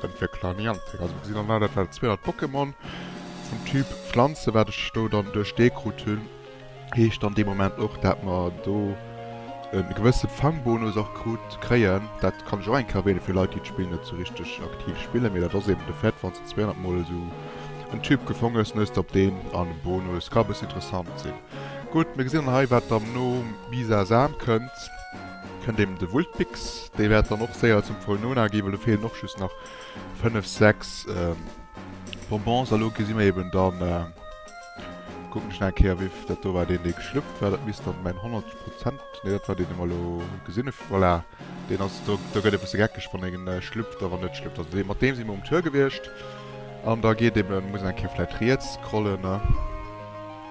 Dat wier klar Niantic. Also gesinn an aller Fäll 200 Pokémon vum Typ Pflanze, wat ech do dann duerch dee krut hunn. Heescht dann dee Moment och, dat mer do e gewësse Fangbonus och krut, kréien. Dat kann ech och eng Kéier erwähnen, fir Leit, déi d'Spill net esou richteg aktiv spillen. Mee dat ass eben de Fait, wann s de 200 Mol esou en Typ gefong hues, dann hues de op deen an e Bonus. Ka e bëssen interessant sinn. Gutt, mir gesinn dann hei, wat dann nom Bisasam kënnt. Kënnt eben de Vultbix, dee wäert dann och séier zum Volnona gi, well do feelen och just nach 5, 6 Bonbons. A lo gesi mir eben da, kucken ech nach eng Kéier, wéivill dat do war, deen dee geschlüpft war. Dat misst dann mäin 100 Prozent, nee, dat war deen, dee mer elo gesinn hu, voilà, deen ass et do. Do gëtt e bësse geckeg, wann en schlüpft a wann net schlüpft. Also dee, mat deem si mer um Tour gewiescht. An da geet eben, muss een eng Kéier vläicht riets scrollen.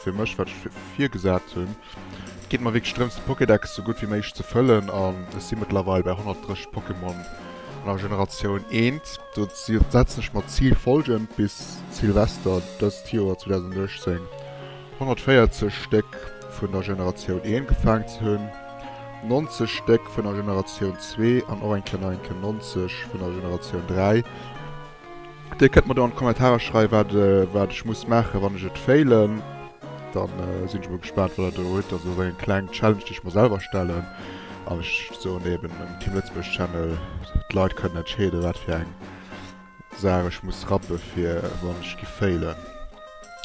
Fir mech, wat ech virgesat hunn, et geet mer wierklech drëms de Pokédex sou gutt wéi méiglech ze fëllen an ech si mëttlerweil bei 130 Pokémon an der Generatioun eent. Dozou setzen ech mer d'Zil follgend, bis Silvester dëst Joer, 2018, 140 Stéck vun der Generatioun eent gefaang ze hunn, 90 Stéck vun der Generatioun zwee an och eng Kleneinken, 90, vun der Generatioun dräi. Dir kënnt mer do an d'Kommentarer schreiwen, wat, wat ech muss maachen, wann ech et failen. Dann sinn ech emol gespaant, wat Der do hutt. Also esou eng kleng Challenge, déi ech mer selwer stellen. An ech soen eben dem Team Lëtzebuerg Channel, d'Leit kënnen entscheeden, wat fir eng Saach ech muss rappen, fir wann ech gi failen.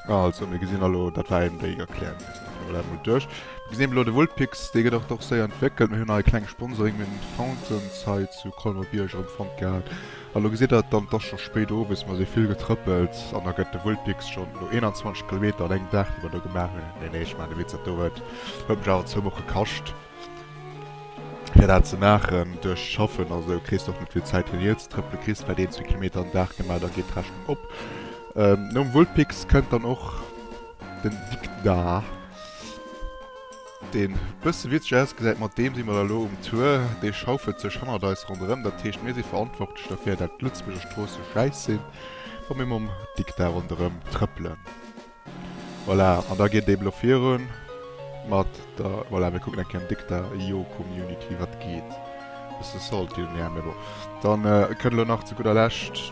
Also, mir gesinn elo, dat war eben déi Erklärung. Mir ginn dat emol duerch. Mir gesinn eben elo, de Vulpix, dee gëtt och do séier entwéckelt. Mir hunn hei e klenge Sponsoring, mir hunn d'Fountains hei zu Colmer-Bierg erëm fonnt gehat. A lo gesitt der, dann, 't ass scho spéit owes, mer si vill getrëppelt, an da gëtt de Vulpix schonn no 21 Kilometer an engem Dag, déi mer do gemaach hunn, nee, nee, ech maachen e Witz, dat do huet mech awer zwou Woche kascht, fir dat ze maachen, duerch d'Schaffen a sou kriss de och net vill Zäit fir Neel ze trëppelen, kriss vläicht een, zwee Kilometer am Dag gemaach, da geet d'Rechnung op. Nom Vulpix kënnt dann och den Dikdar. Deen bësse witzeg ausgesäit, mat deem si mer da lo um Tour. Dee schaufelt sech hannert eis ronderëm, dat heescht mir si verantwortlech derfir, dat d'Lëtzebuerger Stroosse schäiss sinn, wa mir mam Dikta ronderëm trëppelen. Voilà, an da geet et eben elo virun mat der, voilà, mir kucken eng Kéier am Dikta, jo, Community, wat geet? Bësse salty, jo, mä bon, dann kënnt elo nach zu gudder Lescht.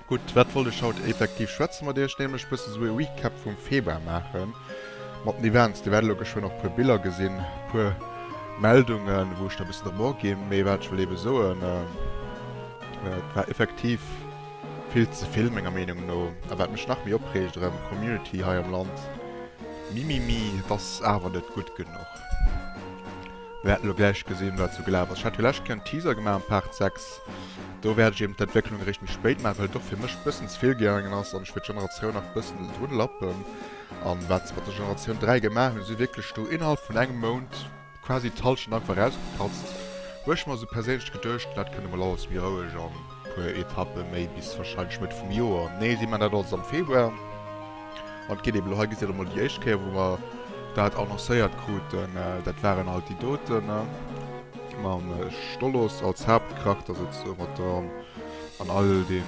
Gutt, wat wollt ech haut effektiv schwätzen mat iech? Nämlech bëssen esou e Recap vum Februar maachen mat den Events. Dir wäert elo geschwënn och puer Biller gesinn, puer Meldungen, wou ech da bëssen drop aginn. Mee wat ech wëll ebe soen, et war effektiv vill ze vill menger Meenung no. A wat mech nach méi opreegt erëm, Community hei am Land, mimimi, et ass awer net gutt genuch. Mir haten elo gläich gesinn, wat sou gelaf ass. Ech hat jo lescht Kéier en Teaser gemaach am Part 6. Do wäert ech eben d'Entwécklung eréischt méi spéit maachen, well et och fir mech e bëssen ze vill gaangen ass an ech wëll d'Generatioun nach e bëssen drun lappen. A wat se mat der Generatioun 3 gemaach hunn, si wierklech do innerhalb vun engem Mount quasi d'Hallschent einfach erausgepatzt, hu ech mer sou perséinlech geduecht. Dat kënnt emol alles méi roueg an e puer Etappe méi bis warscheinlech Mëtt vum Joer. Nee, si maachen dat alles am Februar. An et geet eben elo, hei gesitt Dir emol déi éischt Kéier, wou mer dat annoncéiert kruten, dat waren alt déi doten mam Stoloss als Haaptcharakter souze mat der an all dee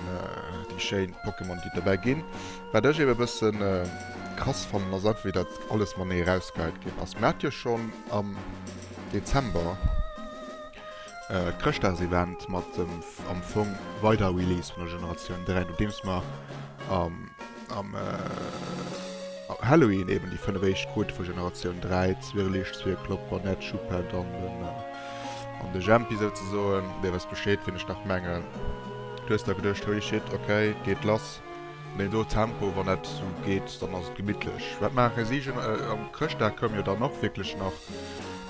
déi schéin Pokémon, déi et dobäi ginn. Wat ech eben e bëssen krass fannen, ass einfach, wéi dat alles matenee erausgeheit ginn ass. Mir hat jo schonn am Dezember d'Chrëschtdagsevent mat dem am Fong weider Release vun der Generatioun 3, nodeems mer am. Am äh, Halloween eben die 5 éischt Quote vu Generatioun 3, Zwirrlicht, Zwirklopp, Bonett, Schuhpad an den, äh, an de Jempi souzesoen. Dir wësst Bescheed, wien ech nach mengen. Du hues da geduecht, holy shit, okay, geet lass. Mee do Tempo, wann dat sou geet, dann ass et gemittlech. Wat maache si? Gen äh, am Chrëschtdag koum jo dann och wierklech nach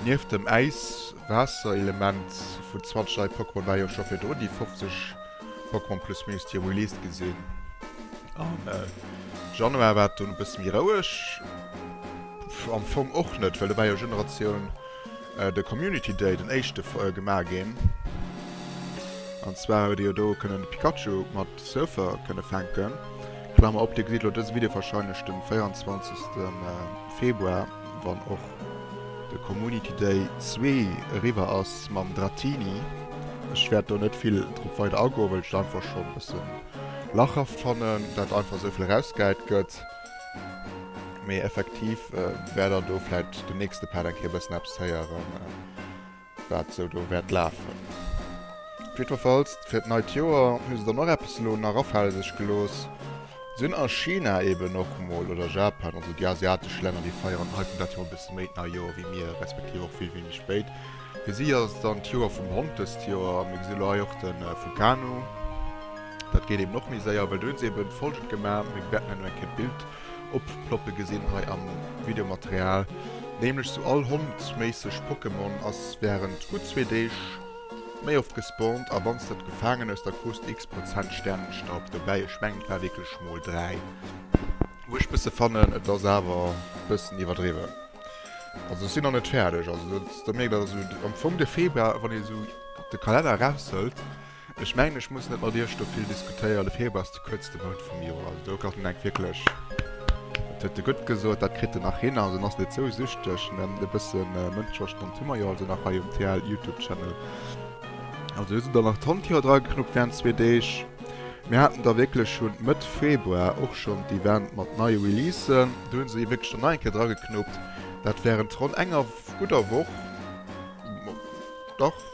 nieft dem Äis-Waasser-Element vun 20 nei Pokémon war jo scho virdrun déi 50 Pokémon Plus Minus déi released gi sinn. Am äh, Januar war dann e bësse méi roueg. Am Fong och net, well da war jo Generatioun äh, de Community Day, den éischte äh, gemaach ginn. An zwar huet Dir jo do kënnen de Pikachu mat Surfer kënne fänken. Klammer op, Dir gesitt elo dëse Video warscheinlech de 24. Äh, Februar. Wann och de Community Day zwee eriwwer ass mam Dratini. Ech wäert do net vill drop weider agoen, well ech dat einfach schonn e bëssen lachhaft fannen, dat einfach esou vill erausgehäit gëtt. Mee effektiv wäert der do vläicht den nächste Part eng Kéier e bëssen eppes héieren. wat sou do wäert lafen. Jiddwerfalls fir d'neit Joer hu se dann och eppes elo nach afale sech gelooss. Sinn a China eben och mol, oder Japan, also déi asiatesch Länner, déi feieren hei vun dat Joer e bësse méi d'nei Joer wéi mir, respektiv och vill wéineg spéit. Fir si ass et dann d'Joer vum Hond dëst Joer. A mir gesinn elo hei och de Vulcano, dat geet eben och méi séier, well do hu se eben folgend gemaach, mir wäerten hei nach eng Kéier d'Bild. Opplopple gesinn hei am Videomaterial, nämlech sou all Hond méisseg. Pokémon ass während gutt zwee Deeg méi oft gespawnt a wanns de et gefaangen hues da krus de x Prozent Sternenstaub dobäi. Ech mengen et war wierklech mol 3, wou ech bësse fannen et ass awer bëssen iwwerdriwwen. Also ech sinn nach net fäerdeg, also do mierkt een also am Fong de Februar wann ee sou de Kalenner eraushëlt. Ech mengen ech muss net mat iech do vill diskutéieren, de Februar ass de kuerzte Mount vum Joer, also do kann een enk wierklech, dat huet de Gutt gesot, dat kritt en nach hin, also en ass net sou süchteg, mä e bësse Mënscheverstand hu mer jo also nach hei um TL-Youtube-Channel. Also do sinn dann nach d'Handticher drageknuppt wärend zwee Deeg. Mir haten da wierklech schonn Mëtt Februar och schonn d'Event mat neie Releasen, do hu se wierklech dann nach eng Kéier drageknuppt, dat wärend ronn enger gudder Woch, dach.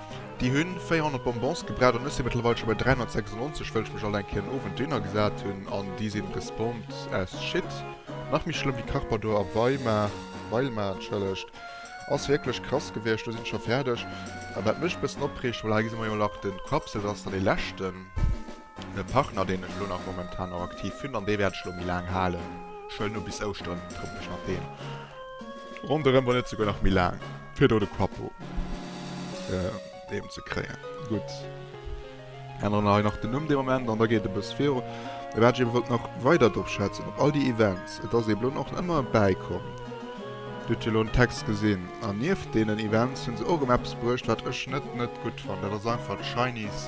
Déi hunn 400 Bonbons gebraucht an ech sinn mëttlerweil scho bei 396 wëll ech mech alt eng Kéier en Owend dohinner gesat hunn an déi sinn respond as shit. Nach méi schlëmm wéi Carpador a Weimar, Weilmar entschëllegt. Ass wierklech krass gewiescht. Lo sinn ech scho fäerdeg. Wat mech bëssen opreegt, voilà hei gesi mer jo nach den Quapsel, dat ass dann dee leschten. E Partner deen ech elo nach momentan och aktiv hunn an dee wäert ech elo méi laang halen. Ech huelen elo bis Ouschteren en Couple, je nachdeem, ronderëm, wann net souguer nach méi laang, fir do de Quappo eben ze kréien. Gutt, änneren hei nach den Numm dee Moment an da geet e bësse viru. Mee wat ech ebe wollt nach weider drop schwätzen, op all déi Events, et ass eeben elo och ëmmer e bäikomm, Dir hutt jo elo den Text gesinn an nieft deenen Events hu se och erëm eppes bruecht, wat ech net net gutt fannen, dat ass einfach d'Shinies.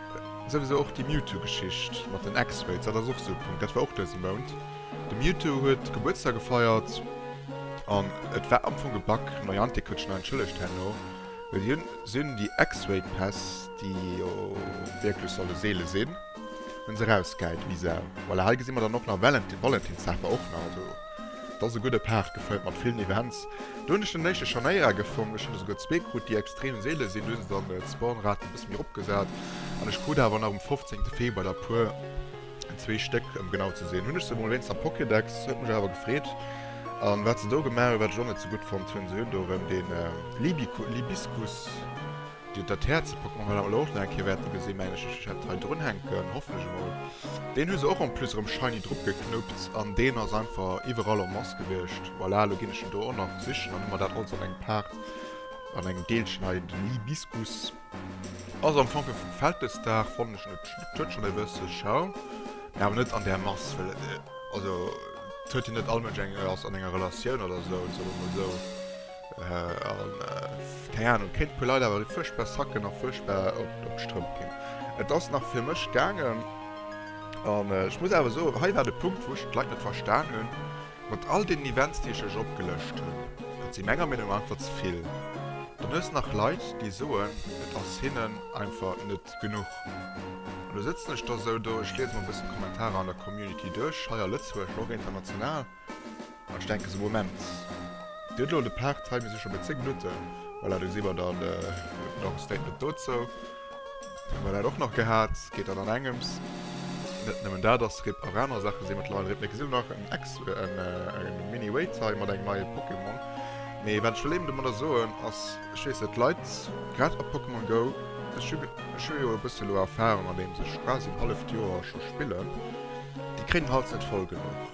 Souwisou och déi Mewtwo-Geschicht mat den X-Raids, dat ass och esou e Punkt, dat war och dëse Mount. De Mewtwo huet Gebuertsdag gefeiert an et war am Fong e Bug. Niantic huet schonn entschëllegt herno, well hien, se hunn déi X-Raid-Päss, déi jo wierklech solle seele sinn, hu se erausgehäit, vis-à. Voilà, hei gesi mer dann och nach Valentinsdag war och nach, also. Dat ass e gudde Paart, gefält mat villen Events. Do hunn ech den éischte Scharnéier gefong, ech hunn der souguer zwee krut, déi extrem seele sinn. Do hu se dann d'Spawnrate e bësse méi eropgesat an ech krut awer nach um 15 Februar der puer, zwee Stéck ëm genau ze sinn. Hunn ech se emol wéinst am Pokédex, huet mech awer gefreet. A wat se do gemaach hunn, wat ech och net sou gutt fonnt hunn, se hunn do erëm dee Libiscus, Dat Häerze packt mer well awer lo och nach eng Kéier wäerte gesinn, mengen ech. Ech hätt et hei drunhänken, hofflech emol. Deen hu se och en plus erëm shiny drugeknuppt an deen ass einfach iwwerall en must gewiescht. Voilà, elo ginn ech en do och nach sichen an hu mer dat alles an engem Part, an engem Deelchen hei. Den Libiscus ass am Fong fir vum Vältesdag, fannen ech net schlëmm. Et huet schonn e bësse Charme, mee awer net an där Mass, well et, also et huet jo net all Mënsch eng, ass an enger Relatioun oder esou, soe mer emol esou. Keng Ahnung, kéint puer Leit awer fuerchtbar Sacken a fuerchtbar op d'Strëmp ginn. Et ass nach fir mech gaangen. An ech muss awer soen, hei war de Punkt, wou ech d'Leit net verstan hunn, mat all deenen Events, déi ech lech opgelëscht hunn. Et si menger Meenung no einfach ze vill. Dann hues de nach Leit, déi soen, et ass hinnen einfach net genuch. An du sëtzen ech da sou do, ech liese mer e bëssen d'Kommentarer an der Community duerch, hei a Lëtzebuerg, ma och international. Ech denken se Moment. Dir hutt elo de Part hei, mir si scho bei 10 Minutten. Voilà, do si mer dann. Dir hutt nach e Statement dozou. Hu mer dat och nach gehat. Geet dann an engems. Net nëmmen dat ass RIP, och aner Saache si mëttlerweil RIP. Mee gesinn elo nach en Ex, en Mini-Wait hei mat engem neie Pokémon. Mee wat ech wëll eben domadder soen ass, ech weess net, d'Leit, grad a Pokémon Go, ech hu, ech hu jo e bësse elo Erfahrung andeems ech quasi en halleft Joer scho spillen, déi kréien den Hals net voll genuch.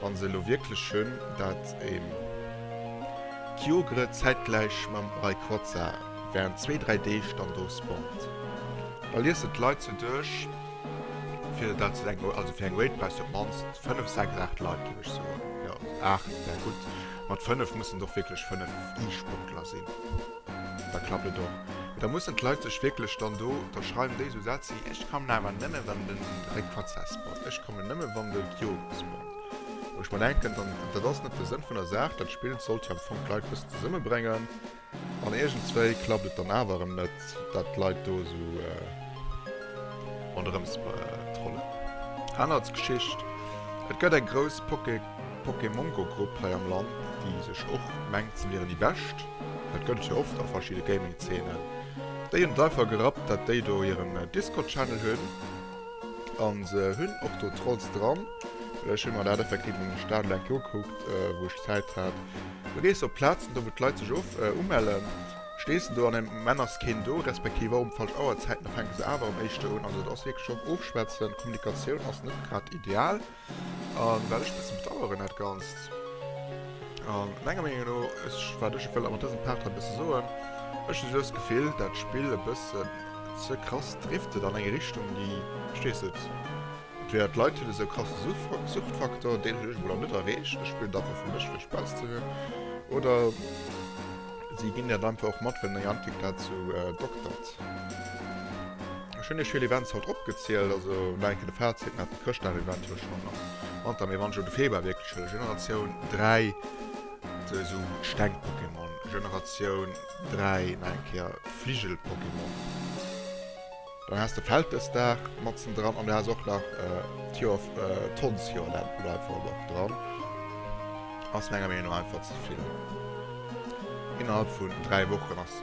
Wann se elo wierklech hunn, dat een Kyogre zäitgläich mam Rayquaza während zwee, dräi Deeg dann do spawnt, da liessen d'Leit se duerch, fir dat se denken, also fir eng Raid brauchs de op d'mannst fënnef, sechs, aacht Leit, géif ech soen, jo, aacht wär gutt, mat fënnef mussen et och wierklech fënnef E-Sportler sinn. Da klappt et och. Da mussen d'Leit sech wierklech dann do, da schreiwen déi esou Sätz wéi, Ech kommen awer nëmme wann de Réckfahrtsätz bot, ech kommen nëmme wann de Diolkes bot. Wou ech mer denken, dann, dat ass net de Sënn vun der Saach. Dat Spill sollt jo am Fong d'Leit e bëssen zesummebréngen. An iergendswéi klappt et dann awer erëm net, dat d'Leit do esou ronderëms trollen. Aner Geschicht, Et gëtt eng grouss Poké. Pokémongo Grupp hei am Land déi sech och mengt se wieren déi bescht, dat gëllt jo oft a verschidde Gaming Zeenen, déi hunn et einfach gerappt dat déi do hiren Discord Channel hunn a se hunn och do Trolls dran, well ech hunn mer dat effektiv an der Stad eleng Keier ugekuckt wou ech Zäit hat, do gees de op Plazen do wou d'Leit sech of umellen, stees de do an engem Moment ass keen do, respektiv och um falsch Auerzäiten, da fänke se awer am éischte un, also et ass wierklech och ofschwätzen, Kommunikatioun ass net grad ideal. An wat ech bessen bedaueren dat ganzt, an menger Meenung no, ech wat ech wëll awer an dësem Part hei bessen soen, ech hu just Gefill dat Spill e bëssen ze krass driftet an eng Richtung déi, verstees et, entweder d'Leit hunn esou krasse Suchtfaktor, deen hunn ech emol nach net erreecht, ech spillen et einfach fir mech fir Spaass ze hunn, oder si ginn dat einfach och mat well Niantic dat sou doktert. Ech hunn iech vill Events haut opgezielt, also nach eng Kéier de Fazit, Mä de Chrëschtdag-Event huet schonn am Wanter, mee wann ech elo de Februar wierklech huelen, Generatioun 3, esou Steng-Pokémon, Generatioun 3, nach eng Kéier Fligel-Pokémon, dann has de Vältesdag matzendran an du has och nach d'Joer, d'Hondsjoer nennt een dat einfach elo nach dran, ass menger Meenung no einfach ze vill. Innerhalb vun dräi Wochen ass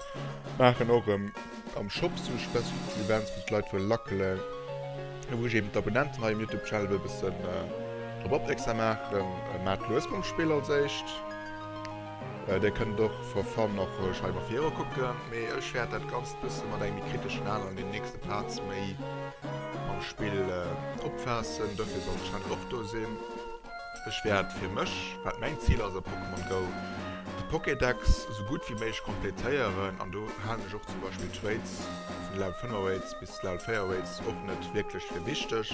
Maachen och erëm am Shop esou spezifesch Events, wou d'Leit wëlle lackelen, a wou ech eben d'Abonnenten hei um Youtube Channel wëll e bëssen drop opmierksam maachen. Maacht lues mam Spill als éischt. Dir kënnt och for fun och roueg hei mafir iwwerkucken, mee ech wäert dat Ganzt e bësse mat engem méi kriteschen Al an den nächste Parts méi mam Spill opfaassen. Dofir soll de Channel och do sinn. Ech wäert fir mech, wat mäin Zil ass a Pokémon Go, de Pokédex esou gutt wéi méiglech kompletéieren an do halen ech och zum Beispill d'Trades vun Level 5 Raids bis Level 4 Raids och net wierklech fir wichteg,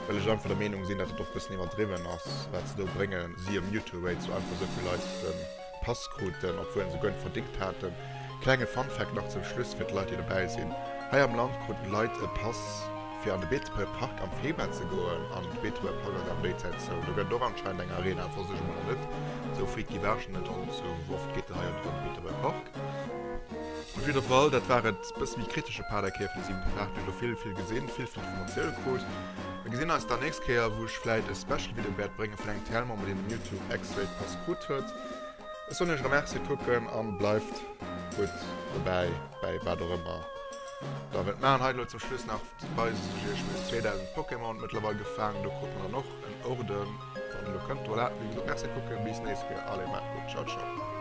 well ech einfach der Meenung sinn, datt et och e bëssen iwwerdriwwen ass, wat se do bréngen, siehe Mewtwo Raid, sou einfach esou vill Leit de. Pass kruten, obwuel se guer net verdingt haten. Klenge Funfact nach zum Schluss fir d'Leit déi dobäi sinn, Hei am Land kruten d'Leit e Pass fir an de Beetebuer Park am Februar ze goen an de Beetebuer Park ass awer déi Zäit zou. Do gëtt och anscheinend eng Arena, et wosst ech emol nach net esou freet gi war ech nach net an zu oft geet en hei an do an de Beetebuer Park. Op jidder Fall, dat war et bësse méi kritesche Paderkäerf dee siwente Dag. Duerch elo vill vill gesinn, vill vill Informatioune krut. Mir gesinn eis dann nächst Kéier wou ech vläit e Special Video wäert bréngen vun engem TL-Member deen den Youtube X-Rate Pass krut. gutt huet. Ech soen iech Merci, kucken an bleift gutt dobäi bäi wat och ëmmer der wëllt maachen. Hei elo zum Schluss nach weisen ech iech meng 2000 Pokémon mëttlerweil gefaangen. Do krut mer dann och en Orden wann en elo kënnt. Voilà, wéi gesot Merci kucken, bis nächst Kéier, allez maacht gutt, ciao ciao.